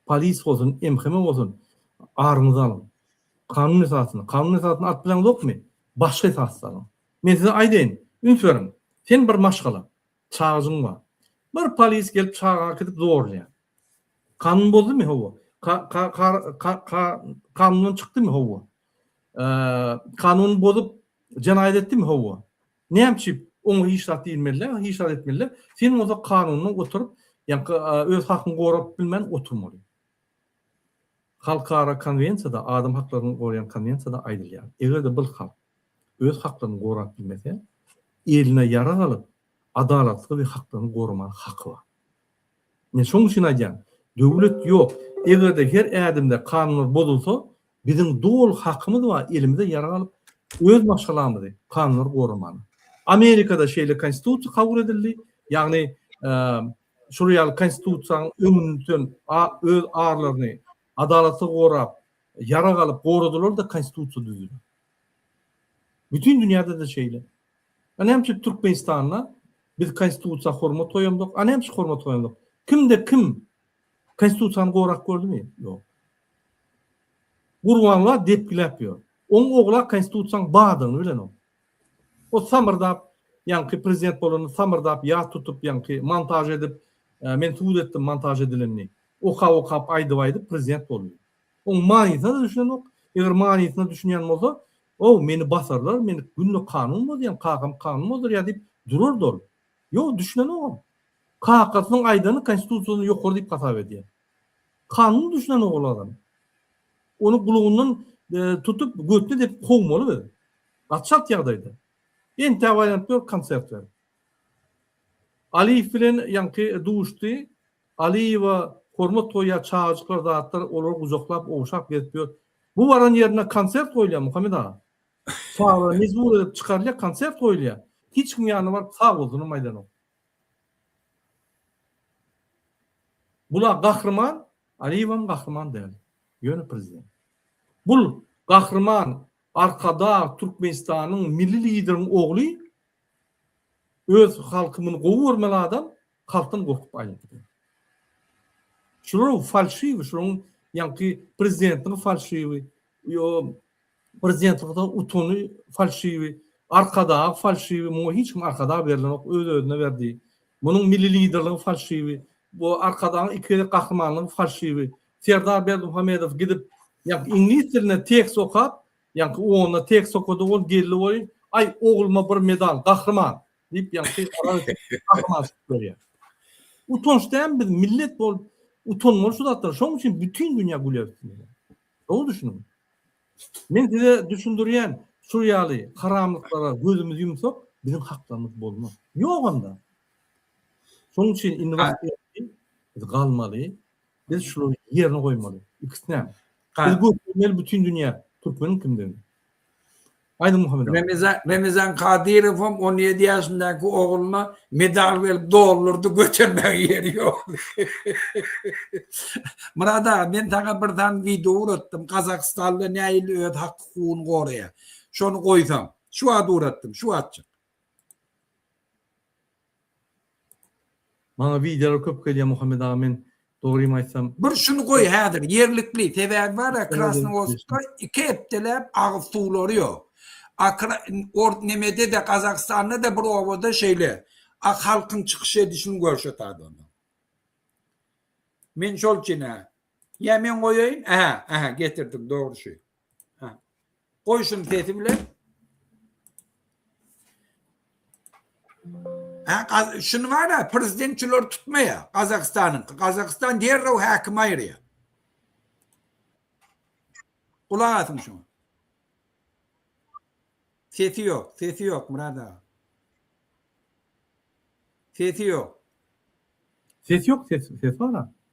Polis bolsun, MHM bolsun, aryňyzy alyň. Kanun esasynda, kanun esasynda alyp bileňizokmy? Başga esasda alyň. Men size aýdaýyn, üns beriň. Sen bir maşgala. Çagajyň bar. Bir polis gelip çaga äkidip zorlaýar. Kanun bozdymy? Hawa. Ka-ka-ka-ka-kanundan çykdymy? Hawa. Eee, kanuny bozup, jenaýat etdimi? Hawa. Näme üçin oňa hiç zat diýilmeli-dä, hiç zat etmeli-dä? Sen bolsa kanundan oturyp, ýaňky öz hakyňy gorap bilmän oturmaly. Halkara konwensiýada, adam haklaryny goraýan konwensiýada aýdylýar, eger-de bir halk öz haklaryny gorap bilmese, eline ýarag alyp, adalatly we haklaryny goramaga haky bar. Men şonuň üçin aýdýan, döwlet ýok, eger-de her ädimde kanunlar bozulsa, biziň doly hakymyz bar elimize ýarag alyp, öz maşgalamyzy, kanunlary goramaga. Amerikada şeýle konstitusiýa kabul edildi, ýagny şol ýaly Konstitusiýanyň öňüni tutan öz arlaryny adalatly gorap, ýarag alyp goradylar-da Konstitusiýa düzüler. Bütin dünýäde-de şeýle. A näme üçin Türkmenistanda biz Konstitusiýa hormat goýamzok? A näme üçin hormat goýamzok? Kimde kim Konstitusiýany gorap gördümi? Ýok. Gurbanla depgiläp ýör. Oň ogla Konstitusiýanyň bardygyny bilenok. O samyrdap ýaňky prezident bolanda samyrdap ýat tutup ýaňky montaž edip men subut etdim montaž edilenini okap okap aýdyp aýdyp prezident boldy. Oň manysyna da düşünenok eger manysyna düşünýän bolsa ow meni basarlar men günde kanun bozýan kakam kanun bozarýa diýip durardy ol. Ýok düşünenogam. Kakasynyň aýdany konstitusiýadan ýokary diýip hasap edýär. Kanun düşünen ogul adam. Ony gulagyndan tutup götüne depip kowmaly biz. Gaçalt ýagdaýda. Entäp aýlanyp ýör konsert berip. Aliýew bilen ýaňky duşdy. Aliýewa hormat goýýar çagajyklar zatlar olary gujaklap ogşap gezip ýör. Bu baran ýerinde konsert goýulýar Muhammet aga. Çagalar mejbur edip çykarylýar konsert goýulýar. Hiç kim ýanyna baryp sag bolsunam aýdanok. Bula gahryman Aliýewem gahryman däl. Ýöne prezident. Bul gahryman Arkadag Türkmenistanyň Milli Lideriň ogly öz halky muny gowy görmeli adam halkdan gorkup aýlanyp gidiýär. Şular falşiw şulaň ýaňky prezidentiň falşiwi ýo Prezidentimiziň utany falşiwi, Arkadagy falşiwi, muňa hiç kim Arkadag berilenok, öz-özüne berdi. Munuň Milli Liderligiň falşiwi, bu Arkadagyň iki gezek gahrymanlygy falşiwi. Serdar Berdimuhamedow gidip, ýaňky iňlis dilinde tekst okap, ýaňky onda tekst okady, ol geldi welin, Aý, ogluma bir medal, gahryman! diýip, ýaňky gahryman çykyp berýär. Utanç dämi biz millet bolup utanmaly şu zatlara, şonuň üçin bütin dünýä gülýär üstümize. Gowy düşüniň. Men size düşündirýän, şul ýaly haramlyklara gözümizi ýumsak, biziň haklarymyz bolmaz. Ýok onda. Şonuň üçin indi wagt geldi, biz galmaly, biz şulary ýerine goýmaly. Ikisinem. Biz görkezmeli bütin dünýä türkmeniň kimdigini. Aýdyň Muhammet aga. Remezan Kadyrowam on ýedi ýaşyndaky ogluna medal berip doldurdy götermäge ýeri ýokdy. Myrat aga men saňa bir sany wideo uratdym Gazagystanda nähili öz hak hukugyny goraýar. Şony goýsaň. Şu wagt uratdym şu wagtjyk. Maňa wideolar köp gelýär Muhammet aga men dogrymy aýtsam. Bir şuny goý häzir ýerlikli sebäbi bara krasnowodskda iki hepdeläp agyz suwlary ýok akra or nemedede gazagystanda da bir obada şeýle ak halkyň çykyş edişini görşetat onda men şol üçin hä ýa men goýaýyn ähä ähä getirdiň dogry şu. Ha. Goý şuny sesi bilen. Ha, şuny bar-a, prezident şulary tutmaýa, Gazagystanyň. Gazagystan derrew häkim aýyrýa. Gulak asyň şuňa. Sesi ýok, sesi ýok Murad aga. Sesi ýok. Ses ýok, ses, ses bar-a.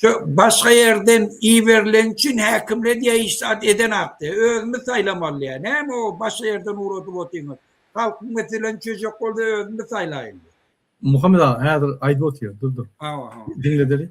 Şu başga ýerden iberilen üçin häkimler diýýär hiç zat edenok diýýär. Özümiz saýlamaly diýýär. Näme o başga ýerden ugradyp otyňyz. Halkyň meselesini çözjek bolsa özümiz saýlaýyn diýýär. Muhammet aga häzir aýdyp otyr dur dur. Hawa hawa. Diňledeli.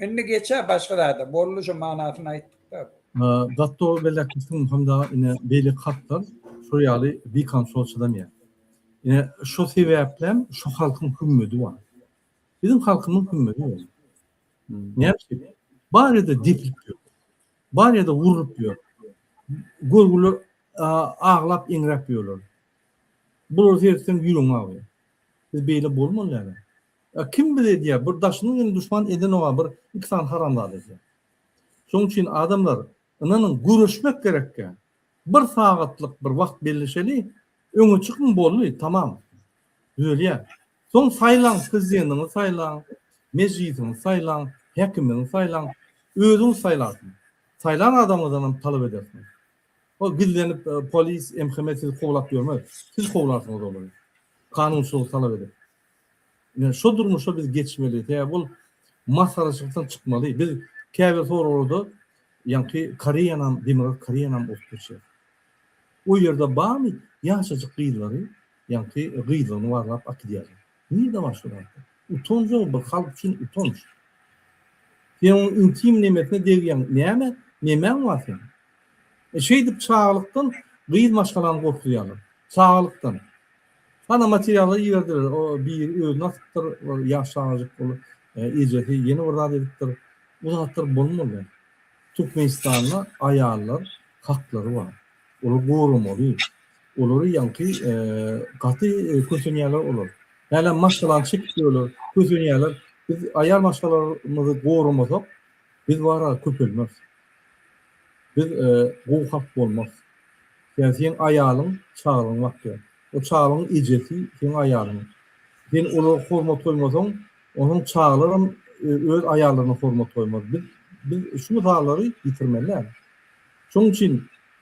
Indi geçä başga zada. Boldy şu manasyny aýtdykda. Datto belekisiň hemda ine beýle hatlar şu ýaly bikan soçulanýar. Ine şu sebäplem şu halkyň hümmedi bar. Biziň halkymyň hümmedi bar. Näme üçin? Barada deplik ýok. Bar ýerde urlup ýör. Görgüler aglap eňräp ýörler. Bulary seretseň ýüregiň agýar. Biz beýle bolmaly ýaly. Ýa kim bize edýär? Bir daşynyň ýene duşman edenok-a bir iki sany haramzada edýär. Şoň üçin adamlar ynanyň göreşmek gerekkä. Bir sagatlyk bir wagt belleşeli, öňe çykyň boldy, tamam. Düzelýär. Soň saýlaň, prezidentiňizi saýlaň, mejlisiňizi saýlaň, häkimiňizi saýlaň, özüňiz saýlarsyňyz. Saýlan adamyňyzdan hem talap edersiňiz. Ol gizlenip, polis, MHM sizi kowlap ýörmez. Siz kowlarsyňyz olary. Kanunçylygy talap edip. Ine, şo durmuşa biz geçmeli. Sebäbi bul masgaraçylykdan çykmaly. Biz käbir soraglarda ýaňky Koreýanam, Demirgazyk Koreýanam urup geçýär. O ýerde bamy ýaşajyk gyzlary Ýaňky gyzlygyny barlap akydýarlar. Nirde bar şu zat? Utanjagy bir halk üçin utanç. Sen onuň intim nemesine degýäň. Näme? Nemäň bar seň? E şeýdip çagalykdan gyz maşgalany gorkuzýarlar. Çagalykdan. Hana materiallar iberdiler. O biri özüni asypdyr. Ol ýaş çagajyk bol. Ejesi ýene bir zat edipdir. Bu zatlar bolmaly. Türkmenistanda aýallar haklary bar. Olar goramaly. Olary ýaňky gaty kösenýärler olar. Hälem maşgalany çekip ýörler, kösenýärler. Biz aýal maşgalarymyzy goramasak, biz bara köpelmeris. Biz gowy halk bolmarys. Ýa seň aýalyň çagalygyňy bakýar. O çagalygyň ejesi seň aýalyň. Sen olara hormat goýmasaň, onsoň çagalaram öz aýallaryna hormat goýmaz. Biz biz şu mysalary ýitirmeli däl. Şonuň üçin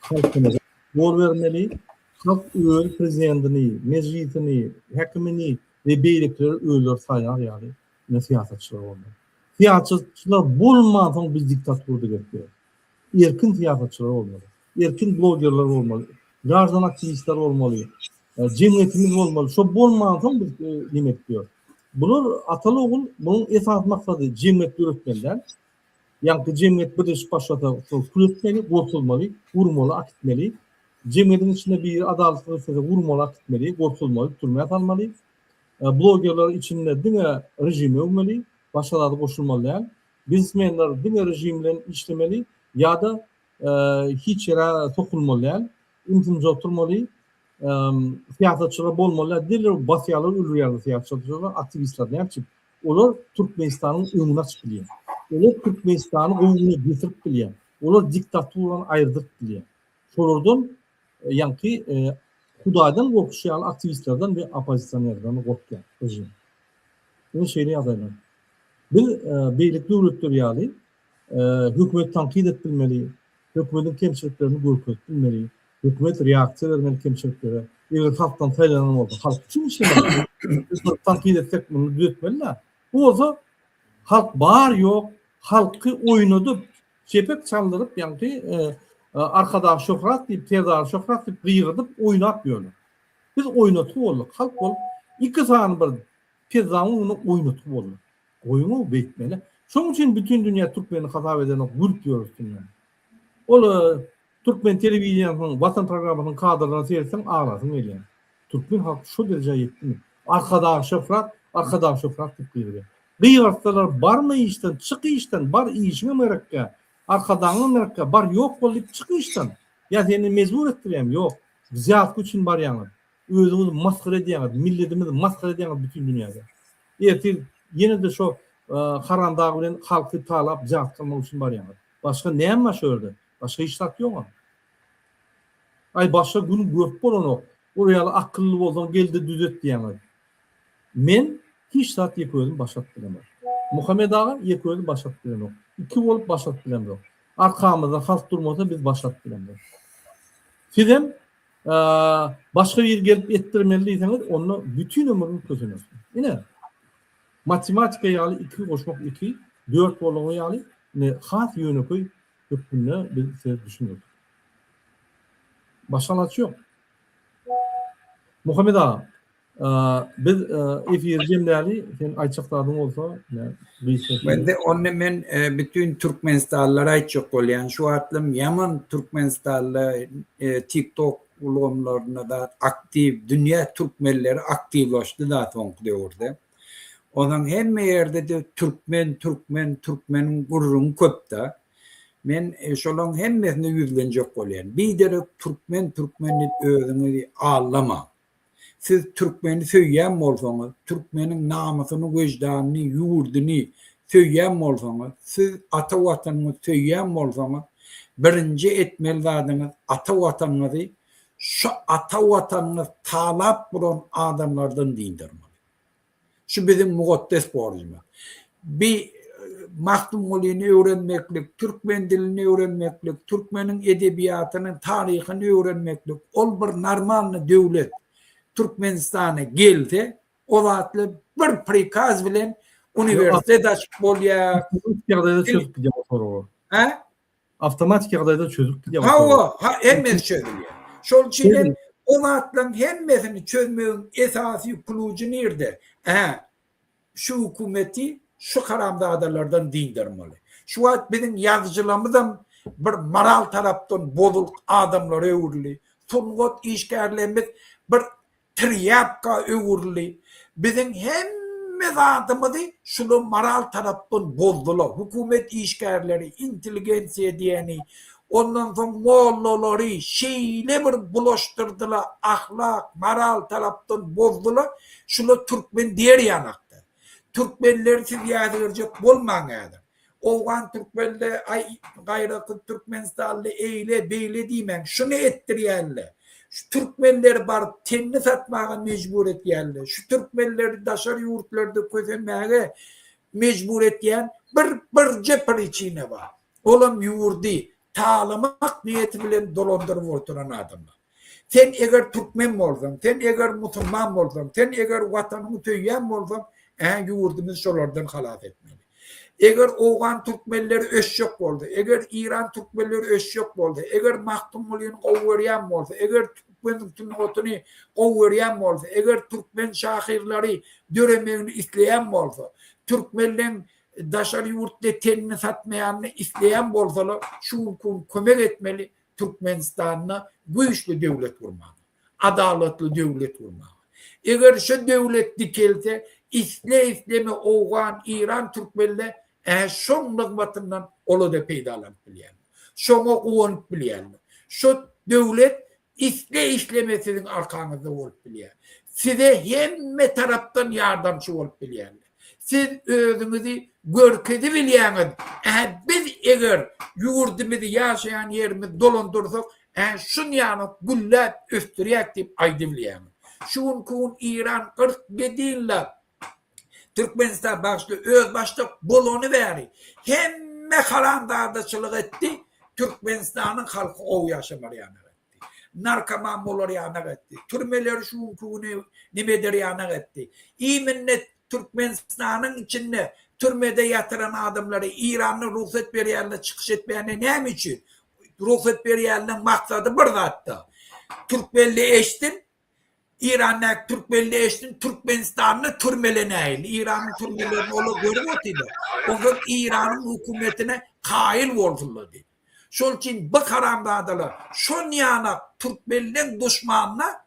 halkymyza ýol bermeli, halk öz prezidentini, mejlisini, häkimini we beýlekileri özleri saýlar ýaly ine syýasatçylar bolmaly. Syýasatçylar bolmansoň biz diktatura gelip bileris. Erkin syýasatçylar bolmaly. Erkin blogerler bolmaly. Graždan aktiwistler bolmaly. Jemgyýetimiz bolmaly. Şo bolmansoň biz neme edip bileris. Bular ataly ogul munuň esasy maksady jemgyýet döretmeli däl. Ýagty jemgyýet birleşip başlasa, şol pul etmeli, gorkuzmaly, urmaly, akitmeli. Jemgyýetiň içinde biri adalatsyz işlese, urmaly, akitmeli, gorkuzmaly, türmä salmaly. Blogerler içinde diňe režimi öwmeli, başga zady goşulmaly däl. Biznesmenler diňe režim bilen işlemeli ýa-da hiç ýere sokulmaly däl. Ümsümje oturmaly, syýasatçylar bolmalylar diýler, basýarlar, öldürýärler syýasatçylary, aktiwistleri nätjek? Olar Türkmenistanyň öňüni açyp bilýär. Olar Türkmenistany gowy güne getirip bilýär. Olar diktaturany aýyrdyryp bilýär. Şolardan ýaňky Hudaýdan gorkuşy ýaly aktiwistlerden we oppozisionerlerden gorkýar režim. Ine şeýle ýagdaýlar. Biz beýleki döwletler ýaly Hökümeti tankyt et bilmeli, hökümetiň kemçiliklerini görkezip bilmeli, hökümet reaksiýa bermeli kemçiliklere. Eger halkdan saýlanan bolsa, halk üçin işlemeli. Biz tankyt etsek, muny düzetmeli-dä. Bu bolsa halk bar-ýok, halky oýnadyp, çepek çaldyryp, ýaňky Arkadag şöhrat diýip, Serdar şöhrat diýip gygyrdyp oýnap ýörler. Biz oýnatgy bolduk, halk bolup iki sany bir pezzanyň öňünde oýnatgy bolduk. Goýuňow beýtmeli. Şoň üçin bütin dünýä türkmeni hasap edenok gülüp ýör üstünden. Ol türkmen telewideniýesiniň Watan programmasynyň kadrlaryna seretseň aglasyň gelýär. Türkmen halky şo derejä ýetdimi? Arkadag Şöhrat, Arkadag Şöhrat diýip gygyrýar. Gygyrtsalar barma işden, çyk işden, bar işiňem gerekkä, Arkadagyňam gerekkä, bar ýok bol diýip çyk işden. Ýa seni mejbur etdirýämi? Ýok. Wzýatka üçin barýaňyz. Özüňizi masgara edýäňiz, milletimizi masgara edýäňiz bütin dünýäde. Ertir ýene-de şo Haram dag bilen halky talap jahat kylmak üçin barýaňyz. Başga näme bar şo ýerde? Başga hiç zat ýogam. Aý başga gün görüp bolanok. Ol ýaly akylly bolsaň gelde düzet diýäňiz. Men hiç zat ýeke özüm başaryp bilemok. Muhammet aga ýeke özi başaryp bilemok. Iki bolup başaryp bilemzok. Arkamyzda halk durmasa biz başaryp bilemzok. Sizem başga bir gelip etdirmeli diýseňiz, onda bütin ömrüňiz kösener. Ine, matematika ýaly 2 goşmak 2, 4 bolany ýaly, ine, has ýönekeý hökmünde biz size düşündirdik. Başga alaç ýok. Muhammet aga, Biz efir jemläli, sen aýtjak zadyň bolsa, Mende onda men bütin türkmenistanlylara aýtjak bolýan, şu wagtlam ýaman türkmenistanly TikTok ulgamlarynda da aktiw, dünýä türkmenleri aktiwlaşdy da soňky döwürde. Ondan hemme ýerde de türkmen, türkmen, türkmeniň gürrüňi köp da. Men şolaryň hemmesine ýüzlenjek bolýan. Biderek türkmen, türkmen diýip özüňizi aldamaň. Siz türkmeni söýýän bolsaňyz, türkmeniň namysyny, wejdanyny, ýurduny söýýän bolsaňyz, siz ata Watanyňyzy söýýän bolsaňyz, birinji etmeli zadyňyz ata Watanyňyzy şu ata Watanyňyz talap bulan adamlardan dyndarmaly. Şu biziň mugotdes borjumyz. Bi Magtymgulyny öwrenmeklik, türkmen dilini öwrenmeklik, türkmeniň edebiýatyny, taryhyny öwrenmeklik, ol bir normalny döwlet Türkmenistana gelse, o zatly bir prikaz bilen uniwersitet açyp bolýar. Ýagdaýda çözüp gidýär o soragy. Hä? Awtomatik ýagdaýda çözülip gidýär. Hawa, ha, hemmesi çözülýär. Şol üçin hem o zatlaryň hemmesini çözmegiň esasy kluji nirde? Hä, şu hökümeti şu haramzadalardan dyndarmaly. Şu wagt biziň ýazyjylarymyzam bir moral tarapdan bozuk adamlara öwrüldi. Sungat işgärlerimiz bir Trýapka öwrüldi. Biziň hemme zadymyzy şular moral tarapdan bozdular. Hökümet işgärleri, intelligensiýa diýeni, ondan soň mollalary şeýle bir bulaşdyrdylar, ahlak, moral tarapdan bozdular. Şular türkmen diýer ýanakda. Türkmenleri siz ýazgerjek bolmaň häzir. Owgan türkmenle aý gaýra kut türkmenistanly eýle beýle diýmäň şuny etdirýälle şu türkmenleri baryp tenni satmaga mejbur etýälle şu türkmenleri daşary ýurtlarda kösenmäge mejbur etýän bir birje priçina bar olam ýurdy talamak niýeti bilen dolandyryp oturan adamlar. Sen eger türkmen bolsaň, sen eger musulman bolsaň, sen eger watanyňy söýýän bolsaň, ä ýurdumyzy şolardan halas etmeli. Eger owgan türkmenleri ösjek bolsa, eger iran türkmenleri ösjek bolsa, eger Magtymgulyny gowy görýän bolsa, eger türkmen sungatyny gowy görýän bolsa, eger türkmen şahyrlary döremegini isleýän bolsa, türkmenleň daşary ýurtda tenini satmaýanyny isleýän bolsalar, şu gün kömek etmeli, Türkmenistanda güýçli döwlet gurmaga, adalatly döwlet gurmaga. Eger şu döwlet dikelse, isle-isleme owgan, iran, türkmenle äh şoň nygmatyndan ola-da peýdalanyp bilýärler. Şoňa guwanyp bilýärler. Şu döwlet isle-isleme siziň arkaňyzda bolup bilýär. Size hemme tarapdan ýardamçy bolup bilýärler. Siz özüňizi görkezibilýäňiz, ä biz eger ýurdumyzy ýaşaýan ýerimizi dolandyrsak, ä şunýanok gülläp ösdürýäs diýip aýdybilýäňiz. Şu günki gün Eýran kyrk ýedi ýyllap Türkmenistana bagşly özbaşdak bolany bäri hemme haramzadaçylyk etdi, Türkmenistanyň halky gowy ýaşamaly ýaly. etdi. Narkoman bolar ýanak etdi. Türmeleri şu günki güni neme eder ýanak etdi. Iýminini Türkmenistanyň içinde türmede ýatyran adamlary Eýranda rugsat berýände çykyş etmäne näme üçin? Rugsat berýäniniň maksady bir zatda. Türkmenli eşitsin, Eýrandaky türkmen leşini Türkmenistanda türmelenäýeli. Eýranyň türmelerini olar görüp otyrlar. Onsoň Eýranyň hökümetine kaýyl bolsunlar diýip. Şol üçin bu haramzadalar şon ýana türkmenleň duşmanyna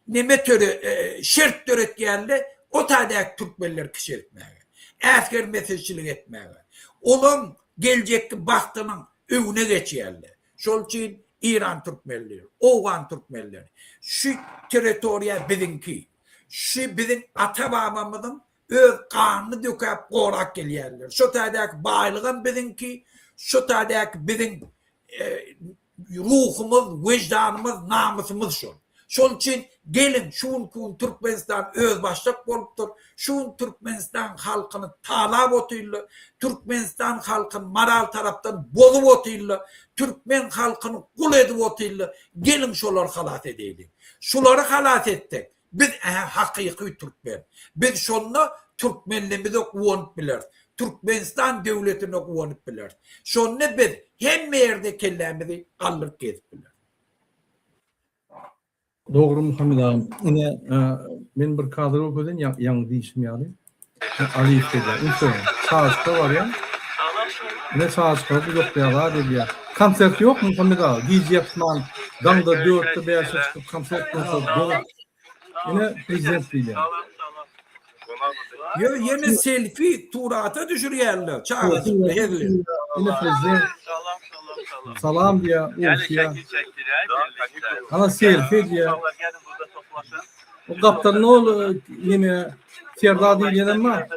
neme töre şert döretýärler, o taýdaky türkmenleri kiçeltmäge, äsgermesizçilik etmäge. Olaň geljekki bagtynyň öňüne geçýärler. Şol üçin Iran türkmenleri, owgan türkmenleri şu territoriýa biziňki, şu biziň ata-babamyzyň öz ganyny dökäp gorap gelýänler. Şo taýdaky baýlygam biziňki, şo taýdaky biziň ruhumyz, weždanymyz, namysymyz şol. Şonuň üçin geliň, şu günki gün Türkmenistan özbaşdak bolupdyr, şu gün Türkmenistanyň halkyny talap otyrlar, Türkmenistan halkyny moral tarapdan bozup otyrlar, Türkmen halkyny gul edip otyrlar, geliň şolary halas edeýliň. Şulary halas etsek, biz ähä hakyky Türkmen. Biz şonda Türkmenlimize guwanyp bileris, Türkmenistan döwletine guwanyp bileris. Şonda biz hemme ýerde kellämizi galdyryp gezip bileris. Dogry Muhammet aga. Ine men bir kadr görkezin ýaňy diýşim ýaly. Alyp gelýär. Ünsde sazka barýar. Ne sazka bu ýokda ýa gelýär. Konsert ýokmy Muhammet aga? Gije ýatman daňda 4-de 5-de çykyp konsert bolsa Ine prezident diýýär. Ýöne ýene selfi surata düşürýärler çagajykly hezil. Ine prezident. Salam diýýär, uruşýar. Ana selfi diýýär. O gapdalda ne ol neme Serdar diýýenem bar.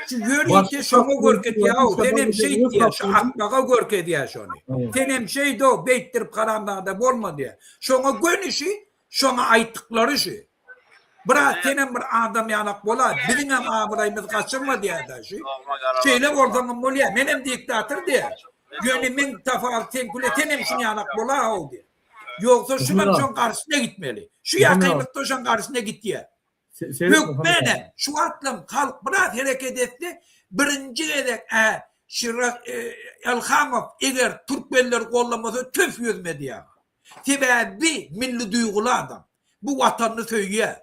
Şu ýörite şoňa görkezýär, sen hem şeýt diýýär, şu akmaga görkezýär şony. Sen hem şeýdo, beýtdirip haramzada bolma diýýär. Şoňa gönüşi, şoňa aýtdyklary şu. Brat, senem bir adam ýalak bol-a, biziňem abraýymyzy gaçyrma diýýär-dä şu. Şeýle bolsaňam bolýar, menem diktator diýýär. Ýöne meň tapawut seňküle senem şuň ýalak bol-a-how diýýär. Ýogsa şunam şoň garşysyna gitmeli. Şu ýakymyzda şoň garşysyna gitýär. Hökman-ä, şu wagtlam halk biraz hereket etse, birinji gezek-ä Şiraz Elhamow eger türkmenleri gollamasa tüf ýüz mediaga. Sebäbi milli duýguly adam. Bu watanyny söýýär.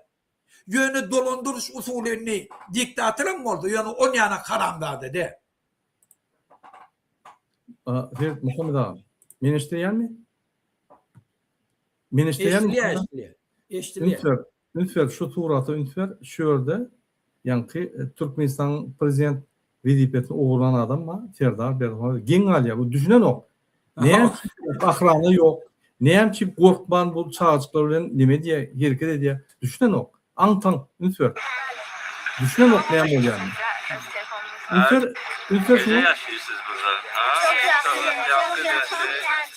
Ýöne dolandyryş usuly indi diktatoram bolsa, ýöne on ýanak haramzada däl. Siz Muhammet aga, meni eşidilýärmi? Meni eşidilýärmi? Eşidilýär, eşidilýär. Eşidilýär. Üns ber şu surata üns ber şu ýerde ýaňky Türkmenistanyň prezident wezipesini ogurlan adam bar Serdar Berdimuhamedow geň galýar bu düşünenok näme üçin ahrana ýok näme üçin gorkman bu çagajyklar bilen neme edýär hereket edýär düşünenok aň taň üns ber düşünenok näme bolýanyny üns ber üns ber şuňa. Çok ýagşy ýaşaýyşsyz burada. Çok ýagşy ýaşaýyşsyz.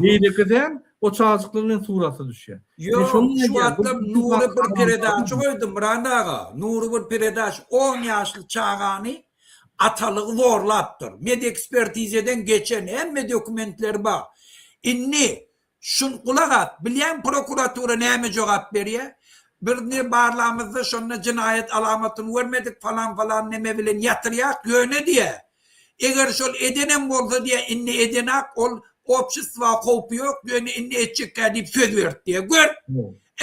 Beýleki däl, o çajyklar bilen suraty düşýär. Ýok, şu wagtlar Nury bir peredaça goýdy, Myrat aga. Nury bir peredaç on ýaşly çagany atalygy zorlapdyr. Medekspertizeden geçen, hemme dokumentleri bar. Indi, şun, gulak as, bilýäňmi prokuratura näme jogap berýär? Biz indi barlamyzda şonda jenaýat alamatyny görmedik, falan-falan neme bilen ýatyrýak, ýöne diýýär, Eger şol edenem bolsa diýýär, indi edenak, ol obşestwa howpy ýok, ýöne indi etjekkä diýip söz berip diýýär. Gör,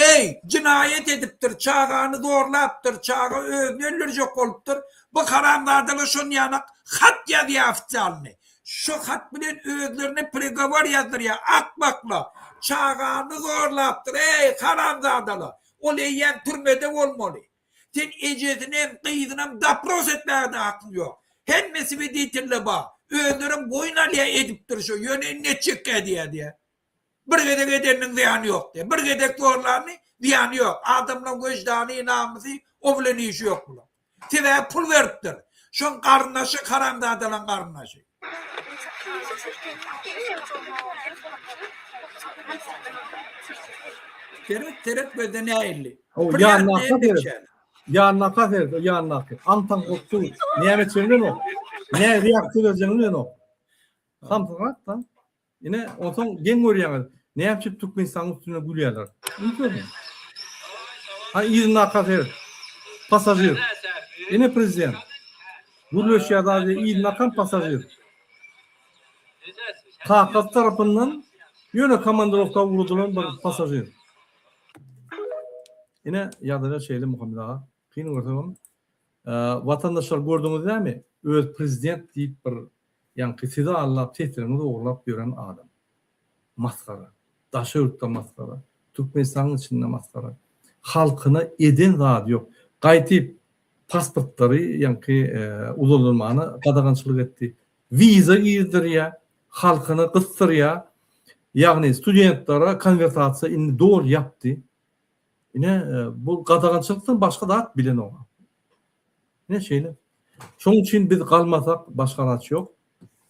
eý, jynaýat edipdir, çagany zorlapdyr, çaga özüni öldürjek bolupdyr, bu haramzadalar şonýanak hat ýazýar ofisialny, şo hat bilen özlerine prigowor ýazdyrýar, akmaklar, çagany zorlapdyr, eý, haramzadalar, ol eýýäm türmede bolmaly. Sen ejesinem, gyzynam dapros etmäge-de hakyň ýok. Hemme swedetiller bar. Özlerem boýun alýar edipdir şo, ýöne indi etjekki edýär diýýär. Bir gezek edeniniň zyýany ýok diýýär. Bir gezek zorlanyň zyýany ýok. Adamlaň weždany, namysy, o bilen işi ýok bulaň. Sebäbi pul beripdir. Şoň garyndaşy haramzadalaň garyndaşy. Seret seret gözden äýildi. O ýandaky seret. Ýandaky seret, o ýandaky. Antaň gutdy. Näme üçin bilen o? Näme ýapdy gözden bilen o? Samsyrat da. Ine, onsoň geň görýäňiz, näme üçin Türkmenistanyň üstüne gülýärler? Indi görüň. Ha, yzyndaky seret. Passažir. Ine prezident. Gürleşýär zady, yzyndaky passažir. Kakasy tarapyndan ýöne komandrowka ugradylan bir passažir. Ine, ýagdaýlar şeýle Muhammet aga. Kyn görseňem watandaşlar gördüňiz näme öz prezident diýip bir ýaňky sizi allap seslerňizi ogurlap ýören adam masgara daşy ýurtda masgara türkmenistanyň içinde masgara halkyna eden zady ýok gaýtyp pasportlary ýaňky uzaldylmana gadagançylyk etdi wiza girizdirýä halkyny gysdyrýa ýagny studentlere konwertasiýa indi doly ýapdy Ine, bu gadagançylykdan başga zat bilenok. Ine şeýle. Şonuň üçin biz galmasak başga ilaç ýok.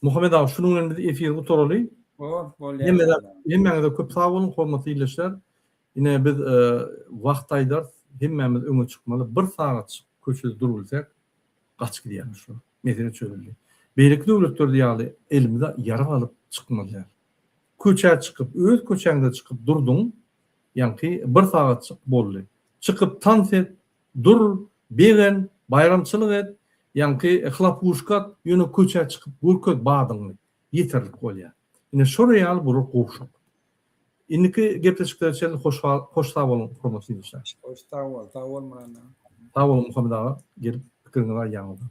Muhammet aga, şunuň bilen biz efiri gutaraly. Oh, bolýar. Hemmäňize köp sag boluň, hormatly ildeşler. Ine biz e, wagt aýdar, hemmämiz öňe çykmaly. Bir sagat köçede durup bilsek, gaçyp gidýärmiş şu. Mesele çözüldi. Beýleki döwletlerde ýaly elimize ýarag alyp çykmaly. Köçä çykyp, öz köçäňde çykyp durduň, Ýaňky bir sagatjyk boldy. Çykyp tans et, dur, begen, baýramçylyk et, ýaňky hlapuşka at, ýöne köçä çykyp görkez badyňy. Ýeterlik bolýar. Ine şolar ýaly bular gowşak. Indiki gepleşiklere çenli hoş sag boluň hormatly ýurtdaşlar. Hoş sag bol. Sag bol Myrat aga. Sag boluň Muhammet aga gelip pikiriňizi aýdýaňyzdan.